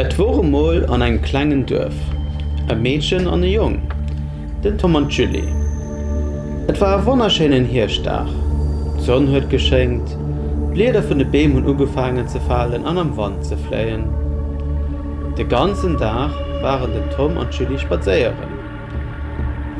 Et wor emol an engem klengen Duerf e Meedchen an e Jong, den Tom an d'Julie. Et war e wonnerschéinen Hierschtdag. D'Sonn huet geschéngt, d'Blieder vun de Beem hunn ugefaangen ze falen an am Wand ze fléien. De ganzen Dag waren den Tom an d'Julie spadséieren.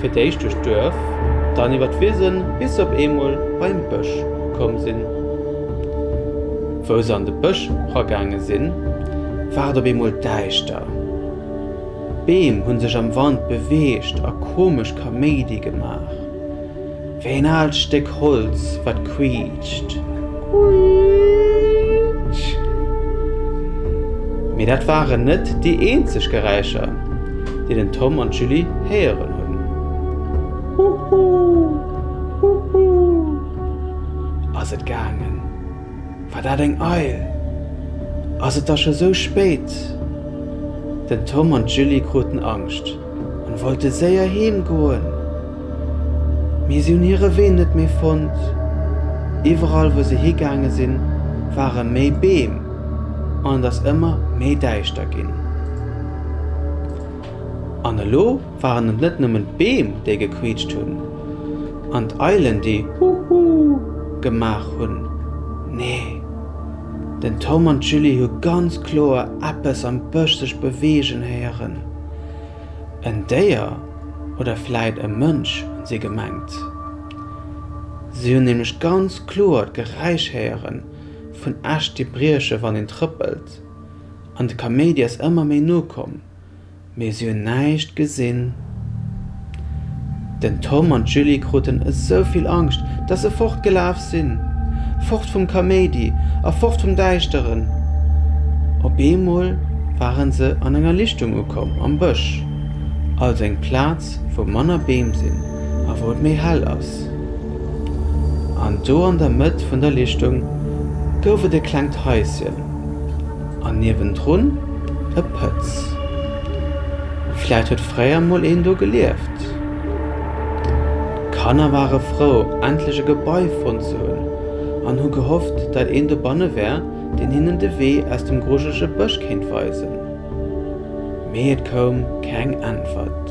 Fir d'éischt duerch d'Duerf, dann iwwer d'Wisen, bis se op eemol bei en Bësch komm sinn. Wou se an de Bësch ragaange sinn, war et op eemol däischter. D'Beem hu sech am Wand beweegt a komesch Kaméidi gemaach. Wéi een aalt Stéck Holz, wat quiitscht. Quiitsch! Mee dat waren net déi eenzeg Geräischer, déi den Tom an d'Julie héieren hunn. Huhu! Huhu! ass et gaangen. War dat eng Eil? Ass et da scho sou spéit? Den Tom an d'Julie kruten Angscht. An wollte séier heem goen, mee si hunn hire Wee net méi fonnt. Iwwerall wou se higaange sinn, ware méi Beem an et ass ëmmer méi däischter ginn. An elo waren et net nëmmen d'Beem déi gequiitscht hunn an d'Eilen déi Hu Hu gemaach hunn, nee, den Tom an d'Julie hu ganz kloer eppes am Bësch sech beweegen héieren. en Déier oder vläit e Mënsch si gemengt. Si hunn nämlech ganz kloer d'Geräisch héiere vun Äscht déi brieche wann een trëppelt an de Kaméidi ass ëmmer méi no komm, mee si hunn näischt gesinn. Den Tom an d'Julie kruten esou vill Angscht, dass se fortgelaf sinn. Fort vum Kaméidi a fort vum Däischteren. Op eemol waren se an enger Lichtung ukomm, am Bësch, also eng Plaz, wou manner Beem sinn a wou et méi hell ass. An do an der Mëtt vun der Lichtung gouf et e klengt Haischen. An niewendrun e Pëtz. Vläit huet fréier mol een do gelieft. D'Kanner ware frou, endlech e Gebai fonnt ze hunn an hu gehofft, dat een dobanne wär, deen hinnen de Wee aus dem grujelege Bësch kéint weisen. Mee et koum keng Äntwert.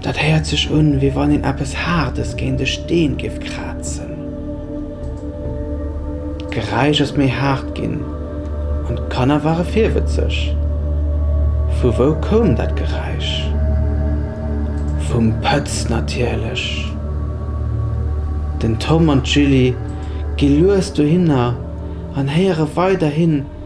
Dat héiert sech un, wéi wann een eppes Haardes géint e Steen géif krazen. D'Geräisch ass méi haart ginn an d'Kanner ware virwëtzeg. Vu wou koum dat Geräisch? Vum Pëtz natierlech! Den Tom an d'Julie gi lues dohinner an héiere weiderhin,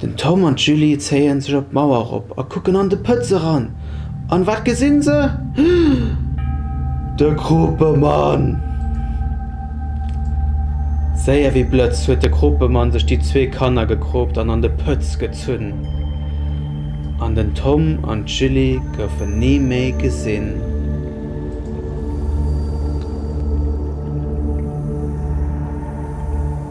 Den Tom an d'Julie zéien sech op d'Mauer erop a kucken an de Pëtz eran. An wat gesinn se? De Kruppemann! Séier wéi Blëtz huet de Kruppemann sech déi zwee Kanner gekroopt an an de Pëtz gezunn. An den Tom an d'Julie goufen ni méi gesinn.